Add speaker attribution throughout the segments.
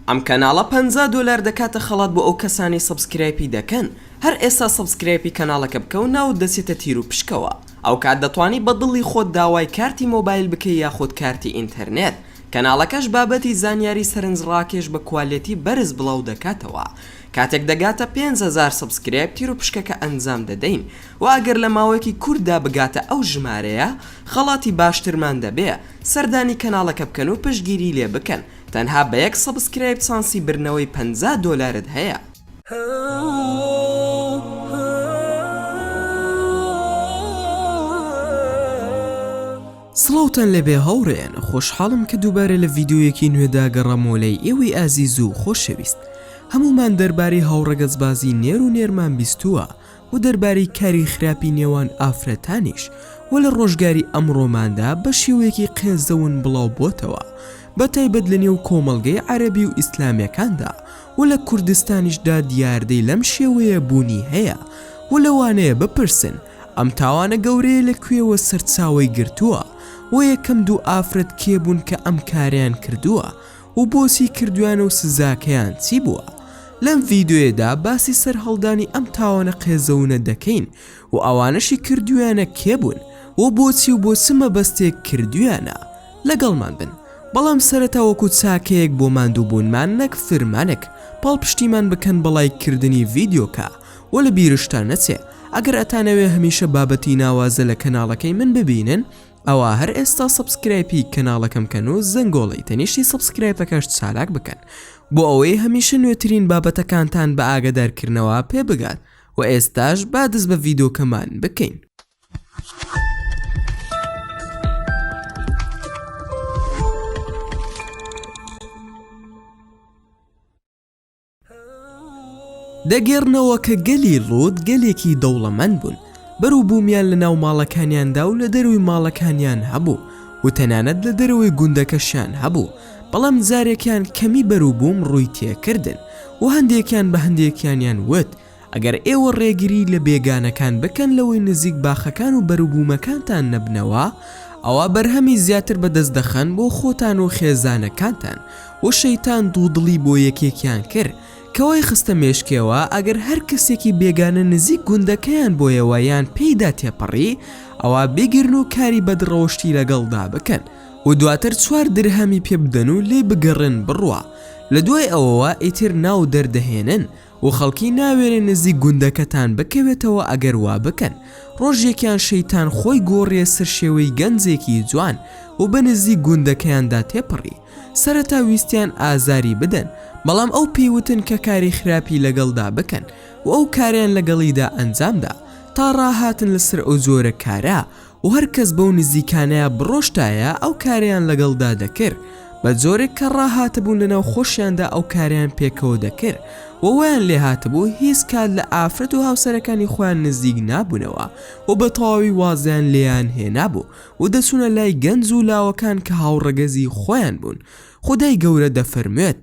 Speaker 1: ئەم کەناڵە پەنجا دۆلار دەکاتە خەڵات بۆ ئەو کەسانەی سەبسکرایپی دەکەن هەر ئێستا سەبسکرایپی کەناڵەکە بکە و ناوت دەچێتە تیروپشکەوە ئەوکات دەتوانی بە دڵی خۆت داوای کارتی مۆبایل بکەی یاخود کارتی ئینتەرنێت کەناڵەکەش بابەتی زانیاری سەرنج ڕاکێش بە کوالێتی بەرز بڵاو دەکاتەوە کاتێک دەگاتە پێنج هەزار سەبسکرایب تیروپشکەکە ئەنجام دەدەین وە ئەگەر لە ماوەیەکی کورتدا بگاتە ئەو ژمارەیە خەڵاتی باشترمان دەبێ سەردانی کەناڵەکە بکەن و پشتگیری لێ بکەن تەنها بە یەک سەبسکرایب چانسی بردنەوەی پەنجا دۆلارت هەیە. سڵاوتان لێبێ هاوڕێیان خۆشحاڵم کە دووبارە لە ڤیدیۆیەکی نوێدا گەڕامەوە لای ئێوەی ئازیز و خۆشەویست هەموومان دەربارەی هاوڕەگەزبازی نێر و نێرمان بیستووە و دەربارەی کاری خراپی نێوان ئافرەتانیش و لە ڕۆژگاری ئەمڕۆماندا بە شێوەیەکی قێزەون بڵاو بۆتەوە بە تایبەت لە نێو کۆمەڵگەی عەرەبی و ئیسلامێکاندا و لە کوردستانیشدا دیاردەی لەم شێوەیە بوونی هەیە و لەوانەیە بپرسن ئەم تاوانە گەورەیە لە کوێوە سەرچاوەی گرتووە و یەکەم دوو ئافرەت کێ بوون کە ئەم کارەیان کردووە و بۆچی کردویانە و سزاکەیان چی بووە لەم ڤیدۆیەدا باسی سەرهەڵدانی ئەم تاوانە قێزەونە دەکەین و ئەوانەشی کردویانە کێ بوون و بۆچی و بۆ چ مەبەستێک کردویانە لەگەڵمان بن بەڵام سەرەتا وەکو چاکەیەک بۆ ماندووبوونمان نەک فرمانێک پاڵپشتیمان بکەن بە ڵایک کردنی ڤیدۆکە و لە بیرشتان نەچێ ئەگەر ئەتانەوێ هەمیشە بابەتی ناوازە لە کەناڵەکەی من ببینن ئەوا هەر ئێستا سەبسکرایپی کەناڵەکەم کەن و زەنگۆڵەی تەنیشتی سەبسکرایپەکەش چالاک بکەن بۆ ئەوەی هەمیشە نوێترین بابەتەکانتان بە ئاگەدارکردنەوە پێ بگات وە ئێستاش با دەست بە ڤیدۆکەمان بکەین. دەگێڕنەوە کە گەلی لوط گەلێکی دەوڵەمەند بوون، بەروبوومیان لە ناو ماڵەکانیاندا و لە دەرووی ماڵەکانیان هەبوو و تەنانەت لە دەرەوەی گوندەکەشیان هەبوو، بەڵام جارێکیان کەمی بەروبووم ڕووی تێکردن و هەندێکیان بە هەندێکیانیان وت، ئەگەر ئێوە ڕێگری لە بێگانەکان بکەن لەوەی نزیک باخەکان و بەروبوومەکانتان نەبنەوە، ئەوا بەرهەمی زیاتر بەدەست دەخەن بۆ خۆتان و خێزانەکانتان، وە شەیتان دوودڵی بۆ یەکێکیان کرد کەوای خستە مێشکێوە، ئەگەر هەر کەسێکی بێگانە نزیک گوندەکەیان بۆیەوە یان پێیدا تێپەڕی، ئەوا بیگرن و کاری بەد ڕەوشتی لەگەڵدا بکەن و دواتر چوار درهەمی پێبدەن و لێی بگەڕێن بڕوا لەدوای ئەوەوە ئیتر ناو دەردەهێنن، و خەڵکی ناوێرێ نزیک گوندەکەتان بکەوێتەوە ئەگەر وا بکەن ڕۆژێکیان شەیتان خۆی گۆڕیە سەر شێوەی گەنجێکی جوان و بە نزیک گوندەکەیاندا تێپەڕی سەرەتا ویستیان ئازاری بدەن بەڵام ئەو پێی وتن کە کاری خراپی لەگەڵدا بکەن و ئەو کاریان لەگەڵیدا ئەنجامدا تا ڕاهاتن لەسەر ئەو جۆرە کارە و هەر کەس بەو نزیکانەیا بڕۆشتایە ئەو کارەیان لەگەڵدا دەکرد بە جۆرێک کە ڕاهاتبوون لەناو خۆشیاندا ئەو کارەیان پێکەوە دەکرد و وایان لێ هاتبوو هیچ کات لە ئافرەت و هاوسەرەکانی خۆیان نزیک نابوونەوە و بە تەواوی وازیان لێیان هێنابوو و دەچوونە لای گەنج و لاوەکان کە هاوڕەگەزی خۆیان بوون خودای گەورە دەفەرموێت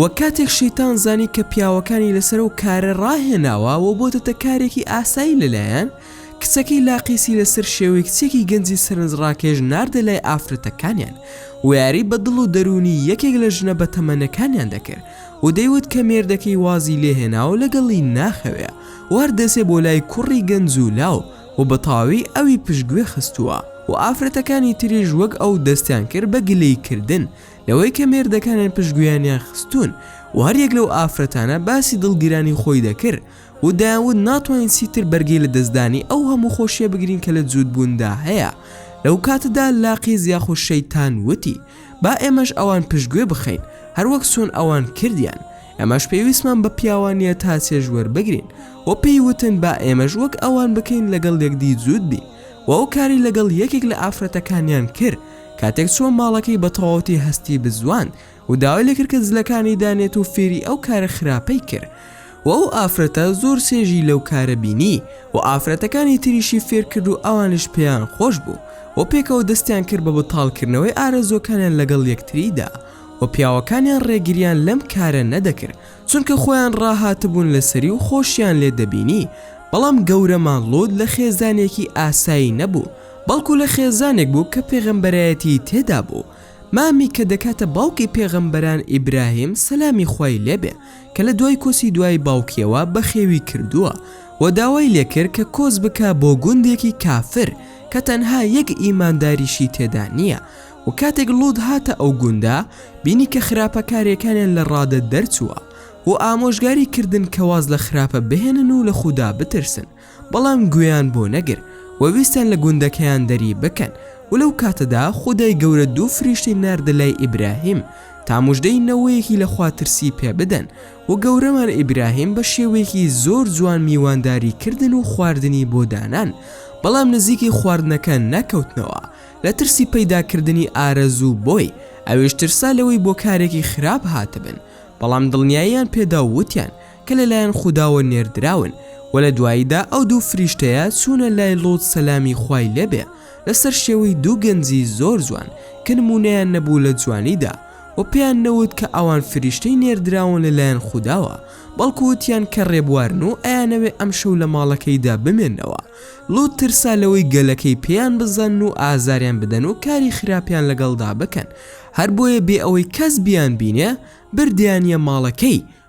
Speaker 1: وە کاتێک شەیتان زانی کە پیاوەکانی لەسەر ئەو کارە ڕاهێناوە وە بۆتەتە کارێکی ئاسایی لەلایان کچەکەی لاقیسی لەسەر شێوەی کچێکی گەنجی سەرنجڕاکێش ناردە لای ئافرەتەکانیان و یاری بە دڵ و دەروونی یەکێک لە ژنە بەتەمەنەکانیان دەکرد و دەیوت کە مێردەکەی وازی لێهێناوە لەگەڵی ناخەوێ وار دەسێ بۆ لای کوڕی گەنج و لاو و بەتەواوی ئەوی پشتگوێ خستووە و ئافرەتەکانی تریش وەک ئەو دەستیان کرد بە گلەیکردن لەوەی کە مێردەکانیان پشتگوێیانیان خستوون و هەریەک لەو ئافرەتانە باسی دڵگیرانی خۆی دەکرد و دەیانوت ناتوانین چیتر بەرگەی لە دەستدانی ئەو هەموو خۆشیە بگرین کە لە جووتبووندا هەیە لەو کاتەدا لاقیز یاخود شەیتان وتی با ئێمەش ئەوان پشتگوێ بخەین هەروەک چۆن ئەوان کردیان ئەمەش پێویستمان بە پیاوانیە تا چێژ وەربگرین و پێی وتن با ئێمەش وەک ئەوان بکەین لەگەڵ یەکدی جووت بین و ئەو کاری لەگەڵ یەکێک لە ئافرەتەکانیان کرد کاتێک چووە ماڵەکەی بە تەواوەتی هەستی بزواند و داوای لێکرد کە جلەکانی دانێت و فێری ئەو کارە خراپەی کرد و ئەو ئافرەتە زۆر چێژی لەو کارە بینی و ئافرەتەکانی تریشی فێر کرد و ئەوانیش پێیان خۆش بوو و پێکەوە دەستیان کرد بە بەتاڵکردنەوەی ئارەزووەکانیان لەگەڵ یەکتریدا و پیاوەکانیان ڕێگریان لەم کارە نەدەکرد چونکە خۆیان ڕاهاتبوون لەسەری و خۆشیان لێ دەبینی بەڵام گەورەمان لوط لە خێزانێکی ئاسایی نەبوو بەڵکو لە خێزانێک بوو کە پێغەمبەرایەتی تێدا بوو، مامی کە دەکاتە باوکی پێغەمبەران ئیبراهیم سەلامی خوای لێ بێ کە لە دوای کۆچی دوای باوکیەوە بەخێوی کردووە و داوای لێ کرد کە کۆچ بکا بۆ گوندێکی کافر کە تەنها یەک ئیمانداریشی تێدا نیە و کاتێک لوط هاتە ئەو گوندە بینی کە خراپە کارێکانیان لە ڕادە دەرچووە و ئامۆژگاری کردن کە واز لە خراپە بهێنن و لە خودا بترسن بەڵام گوێیان بۆ نەگر و ویستیان لە گوندەکەیان دەری بکەن و لەو کاتەدا خودای گەورە دوو فریشتەی ناردە لای ئیبراهیم تا موژدەی نەوەیەکی لە خوا ترسی پێ بدەن و گەورەمان ئیبراهیم بە شێوەیەکی زۆر جوان میوانداری کردن و خواردنی بۆ دانان بەڵام نزیکی خواردنەکە نەکەوتنەوە لە ترسی پەیدا کردنی ئارەزوو بۆی ئەویش ترسا لەوەی بۆ کارێکی خراپ هاتبن بەڵام دڵنیاییان پێدا و وتیان کە لە لایەن خوداوە نێردراون، وە لە دواییدا ئەو دوو فریشتەیە چوونە لای لوط سەلامی خوای لێ بێ لەسەر شێوەی دوو گەنجی زۆر جوان کە نموونەیان نەبوو لە جوانیدا وە پێیان نەوت کە ئەوان فریشتەی نێردراون لە لایەن خوداوە بەڵکو وتیان کە ڕێبوارن و ئەیانەوێ ئەم شەو لە ماڵەکەیدا بمێنەوە لوط ترسا لەوەی گەلەکەی پێیان بزانن و ئازاریان بدەن و کاری خراپیان لەگەڵدا بکەن هەر بۆیە بێ ئەوەی کەس بیانبینێ بردیانیە ماڵەکەی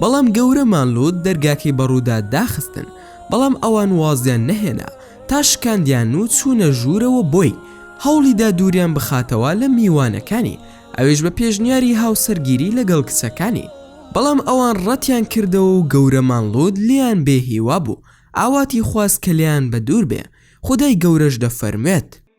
Speaker 1: بەڵام گەورەمان لوت دەرگاکەی بە ڕوودا داخستن بەڵام ئەوان وازیان نەهێنا تا شکاندیان و چوونە ژوورەوە بۆی هەوڵیدا دووریان بخاتەوە لە میوانەکانی ئەویش بە پێشنیاری هاوسەرگیری لەگەڵ کچەکانی بەڵام ئەوان ڕەتیان کردەوە و گەورەمان لوت لێیان بێ هیوا بوو ئاواتی خواست کە لێیان بە دوور بێ خودای گەورەش دەفەرموێت.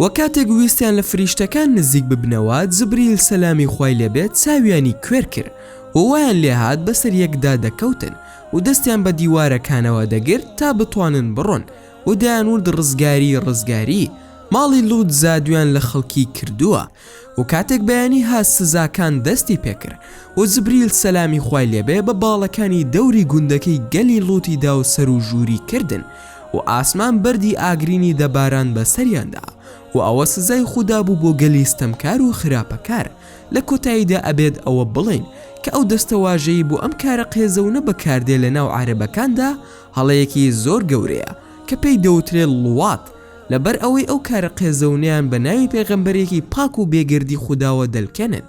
Speaker 1: وە کاتێک ویستیان لە فریشتەکان نزیک ببنەوە جبریل سەلامی خوای لێ بێت چاویانی کوێر کرد و وایان لێ هات بەسەر یەکدا دەکەوتن و دەستیان بە دیوارەکانەوە دەگرت تا بتوانن بڕۆن و دەیان وت ڕزگاری ڕزگاری ماڵی لوط جادویان لە خەڵکی کردووە. و کاتێک بەیانی هات سزاکان دەستی پێکرد و جبریل سەلامی خوای لێبێ بە باڵەکانی دەوری گوندەکەی گەلی لوتی دا و سەرو ژووری کردن و ئاسمان بەردی ئاگرینی دەباران بە سەریاندا و ئەوە سزای خودا بوو بۆ گەلی ستەمکار و خراپەکار لە کۆتاییدا ئەبێت ئەوە بڵێین کە ئەو دەستەواژەی بۆ ئەم کارە قێزەونە بەکاردێ لە ناو عارەبەکاندا هەڵەیەکی زۆر گەورەیە کە پێی دەوترێ ڵوات لەبەر ئەوەی ئەو کارە قێزەونەیان بە ناوی پێغەمبەرێکی پاک و بێگەردی خوداوە دەلکێنن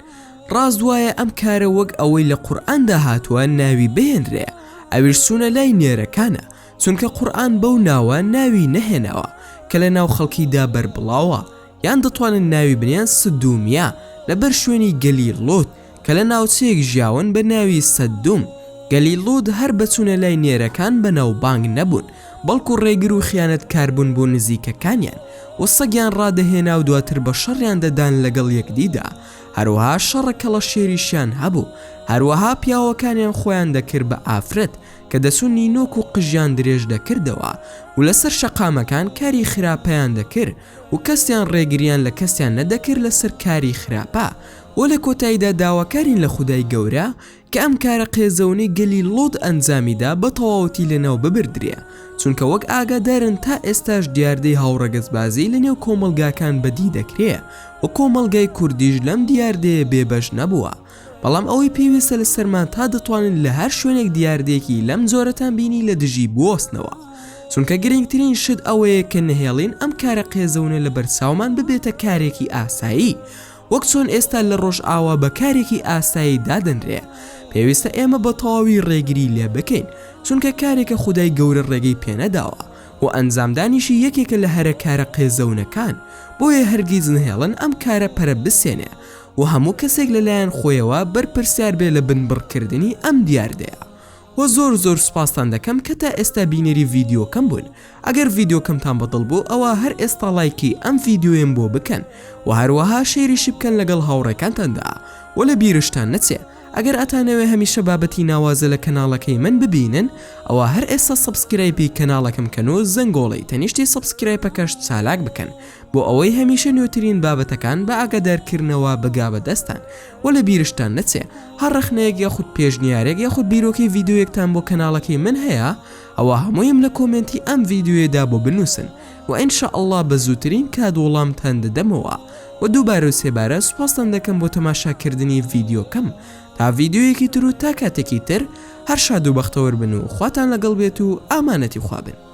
Speaker 1: ڕاست وایە ئەم کارە وەک ئەوەی لە قورئاندا هاتووە ناوی بهێنرێ ئەویش چوونە لای نێرەکانە چونکە قورئان بەو ناوە ناوی نەهێناوە کە لە ناو خەڵکیدا بەربڵاوە یان دەتوانن ناوی بنێن سدومیە لەبەر شوێنی گەلی لۆط کە لە ناوچەیەک ژیاون بە ناوی سەددوم، گەلی لوط هەر بە چوونە لای نێرەکان بەناوبانگ نەبوون، بەڵکو ڕێگر و خیانەتکار بوون بۆ نزیکەکانیان و سەگیان ڕادەهێنا و دواتر بە شەڕیان دەدان لەگەڵ یەکدیدا، هەروەها شەڕە کەڵەشێریشیان هەبوو، هەروەها پیاوەکانیان خۆیان دەکرد بە ئافرەت کە دەچوون نینۆک و قژیان درێژ دەکردەوە و لەسەر شەقامەکان کاری خراپەیان دەکرد و کەسیان ڕێگریان لە کەسیان نەدەکرد لەسەر کاری خراپە وە لە کۆتایدا داواکارین لە خودای گەورە کە ئەم کارە قێزەونەی گەلی لوط ئەنجامی دا بە تەواوەتی لەناو ببردرێ چونکە وەک ئاگادارن تا ئێستاش دیاردەی هاوڕەگەزبازی لە نێو کۆمەڵگاکان بە دی دەکرێ وە کۆمەڵگای کوردیش لەم دیاردەیە بێ بەش نەبووە بەڵام ئەوەی پێویستە لە سەرمان تا دەتوانن لە هەر شوێنێک دیاردەیەکی لەم جۆرەتان بینی لە دژی بوەستنەوە چونکە گرنگترین شت ئەوەیە کە نەهێڵین ئەم کارە قێزەونە لە بەرچاومان ببێتە کارێکی ئاسایی وەک چۆن ئێستا لە ڕۆژئاوا بە کارێکی ئاسایی دادەنرێ پێویستە ئێمە بە تەواوی ڕێگری لێ بکەین چونکە کارێکە خودای گەورە ڕێگەی پێنەداوە و ئەنجامدانیشی یەکێکە لە هەرە کارە قێزەونەکان بۆیە هەرگیز نەهێڵن ئەم کارە پەرە بسێنێ و هەموو کەسێک لەلایەن خۆیەوە بەرپرسیار بێ لە بنبڕکردنی ئەم دیاردەیە وە زۆر زۆر سوپاستان دەکەم کە تا ئێستا بینەری ڤیدیۆکەم بوون ئەگەر ڤیدیۆکەمتان بە دڵ بوو ئەوا هەر ئێستا ڵایکی ئەم ڤیدیۆیەم بۆ بکەن وە هەروەها شەیریشی بکەن لەگەڵ هاوڕێکانتاندا وە لە بیرشتان نەچێ ئەگەر ئەتانەوێ هەمیشە بابەتی ناوازە لە کەناڵەکەی من ببینن ئەوا هەر ئێستا سەبسکرایپی کەناڵەکەم کەن و زەنگۆڵەی تەنیشتی سەبسکرایپەکەش چالاک بکەن بۆ ئەوەی هەمیشە نوێترین بابەتەکان بە ئاگادارکردنەوە بگا بە دەستتان وە لە بیرشتان نەچێ هەر ڕەخنەیەک یاخود پێشنیارێک یاخود بیرۆکەی ڤیدیۆیەکتان بۆ کەناڵەکەی من هەیە ئەوا هەموویم لە کۆمێنتی ئەم ڤیدیۆیەدا بۆ بنووسن وە ان شاء اللە بە زووترین کات وڵامتان دەدەمەوە وە دووبارە و سێبارە سوپاستان دەکەم بۆ تەماشاکردنی ڤیدیۆکەم تا ڤیدیۆیەکی تر و تا کاتێکی تر هەر شاد و بەختەوەر بن و خواتان لەگەڵ بێت و ئامانەتی خوا بن.